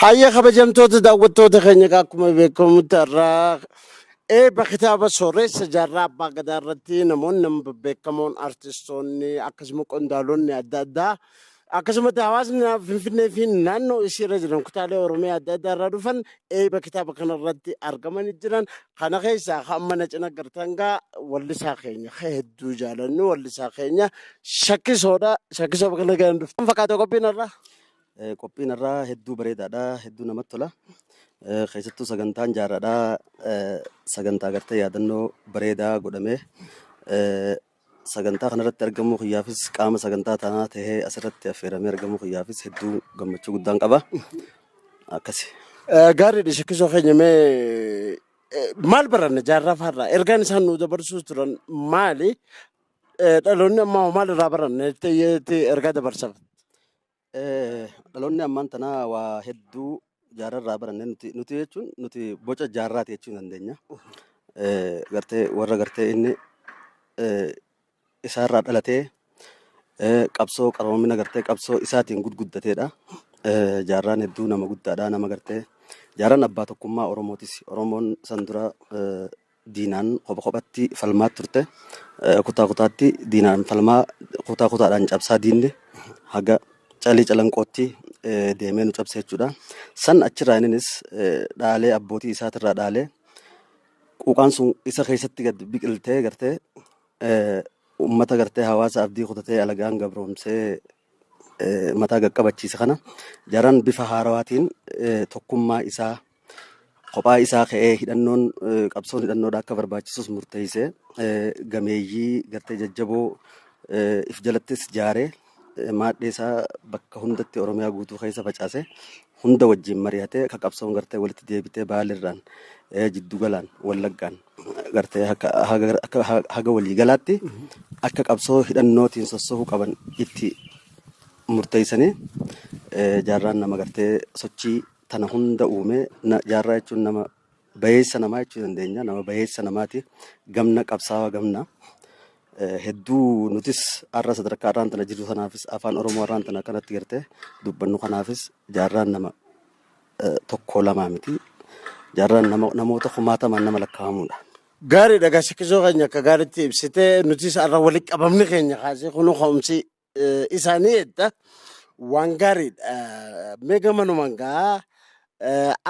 Haayya kabajamtoota daawwattoota keenya egaa akkuma beekamutti har'aa eebba kitaaba sooreessa jaarraa abbaa gadaa irratti namoonni nama bebbeekamoon artistoonni akkasuma qondaalonni adda addaa akkasumatti hawaasni na- finfinnee fi naannoo isii irra jiran kutaalee oromiyaa adda addaa irraa dhufan eebba kitaaba kana irratti argamanii jiran Kana keessaa kan amma na cina gartan gaa wallisaa keenya ka hedduu jaalannu wallisaa keenya shakkisoodha. Shakkisoo bakka nagaan dhufte. Kan fakkaate qophiin irraa. Eh, Qophiin irraa hedduu bareedaadha. Hedduu namatti tola. Eh, Keessattuu sagantaan jaarraadha. Eh, Sagantaa gartee yaadannoo bareedaa godhamee eh, Sagantaa kanarratti argamuu kiyyaafis qaama sagantaa tanaa tahee asirratti affeeramee argamuu kiyyaafis hedduu gammachuu guddaan qaba. Akkasi. Gaariidha shakkisoo keenya mee eh, maal baranna jaarraa faarraa ergaan isaan nu dabarsuus turan maali? Eh, Dhaloonni ammaa hoo maal irraa baranna jettee jettee ergaa dabarsaaf? Dhaloonni ammaan tanaa waa hedduu jaarraa irraa baranne nuti nuti jechuun nuti boca jaarraati jechuu dandeenya. Gartee warra gartee inni isaarraa dhalatee qabsoo qaroomina gartee qabsoo isaatiin gudguddateedha. Jaarraan hedduu nama guddaadha nama gartee jaarraan abbaa tokkummaa Oromootis Oromoon san dura Diinaan kopha kophatti falmaa turte. Kutaa kutaatti diinaan falmaa kutaa kutaadhaan cabsaa diinni haga calii calanqootti deemee nu cabse jechuudha. San achirraa inninis dhaalee abbootii isaatirraa dhaalee quuqaan sun isa keessatti gad biqiltee gartee uummata gartee hawaasa abdii kutatee alagaan gabroomsee mataa gaqqabachiise kana jaran bifa haarawaatiin tokkummaa isaa kophaa isaa ka'ee hidhannoon qabsoon hidhannoodha akka barbaachisus murteeyse gameeyyii gartee jajjaboo if jalattis jaare maadhee isaa bakka hundatti oromiyaa guutuu keessa facaase hunda wajjin mari'atee akka qabsoon gartee walitti deebitee baalirraan jiddugalaan wallaggaan gartee haga waliigalaatti akka qabsoo hidhannootiin sossohuu qaban itti murteeysanii jaarraan nama gartee sochii Tana hunda uume na- jaarraa jechuun nama bayeessa namaa jechuu dandeenya. Nama bayeessa namaati. Gamna qabsaawaa gamna. Eh, Hedduu nutis har'a sadarkaa har'aan tana jirru sanaafis afaan Oromoo har'aan tana akkanatti gartee dubbannu kanaafis jaarraan nama eh, tokko lamaa miti. Jaarraan nama, namoota kumaatamaan nama lakkaa'amudha. Gaariidha gasikisoo keenya akka gaariitti ibsite nutis har'a walitti qabamni keenya kaasee kunuu ka'umsi isaanii edda waan gaariidha. Mee gamanumaan gaa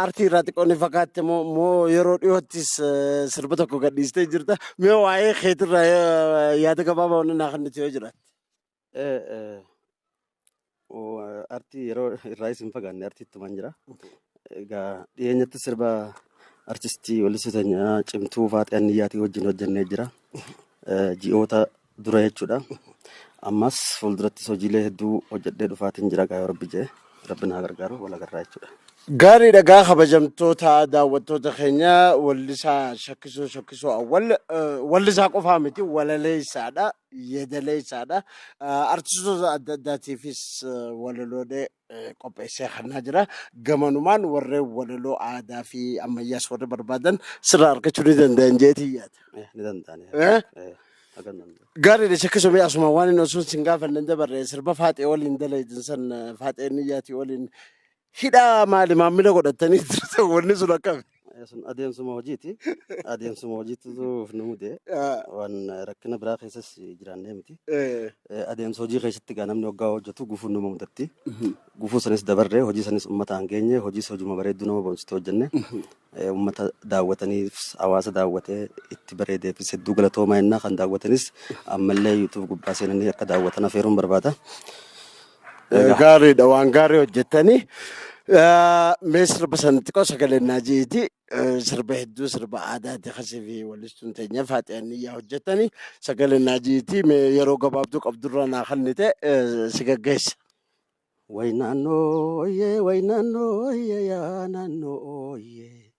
aartii irraa xiqqoo ni fakkaatti moo moo yeroo dhiyoottis sirba tokko gadhiistee jirta. Mee waa'ee keetirraa yaada gabaabaa wanni naa kennitu yoo jiraate. Artii yeroo irraa isin fagaanne artii ittumaan jira. Egaa dhiyeenyatti sirba artistii weellisu teenyaa cimtuu Faaxee Anniyyaatii wajjin hojjennee jira. Ji'oota dura jechuudha. Ammas fuuldurattis hojiilee hedduu hojjedhee dhufaatiin jira gaa yoo rabbi jee rabbi naa gargaaru wal agarraa jechuudha. Gaariidha gaa kabajamtoota daawwattoota keenya wallisaa shakkisoo shakkisoo awwal eh, wallisaa qofaa miti walaleessaadha yeedaleessaadha Eh, artistoota adda addaatiifis eh, walaloolee eh, qopheessee hannaa jira. Gamanumaan warreen walaloo aadaa fi ammayyaas warri barbaadan sirraa argachuu ni danda'an jeetii yaada. Eh, ni danda'ani. Eh? Eh, hagan danda'u. Gaariidha shakkisumee asuma waan inni osoo sin gaafanne hin dabarre sirba faaxee waliin dalaydin san eh, faaxee niyyaatii waliin hidhaa maali maamila godhattanii jirtan wanni sun akkami. Eh, Sun adeemsuma hojiiti. Adeemsuma hojiitu nu mude. Ah, Waan rakkina biraa keessas jiraannee miti. eh, Eh, Adeemsa hojii keessatti egaa namni waggaa hojjetu gufuun nama mudatti. mhm, Gufuu sanis dabarree hojii sanis uummataan geenye hojiis hojuma bareedduu nama boonsitu hojjenne. mhm, Eh, Uummata daawwataniif hawaasa daawwatee itti bareedeefis hedduu galatoomaa innaa kan daawwatanis ammallee yuutuub gubbaa seenanii akka daawwatan afeeruun barbaada. Egaa. Gaariidha waan gaarii hojjettanii. Eh, Mee sirba sana xiqqoo sagalee naa ji'eeti. Eh, Sirba hedduu sirba aadaati kasii fi walistuun teenya faaxiyanii yaa hojjettanii sagalee naa ji'eeti. Mee yeroo gabaabduu qabdurraa naa kannite eh, si gaggeessa. Way naannoo ooyee way naannoo ooyee yaa naannoo ooyee.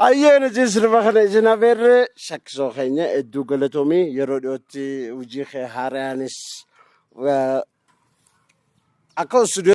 Hayyee nuti sirba kana isin afeerre shakkisoo keenya hedduu galatoomii yeroo dhiyootti hojii kee haaraanis eh, akka studio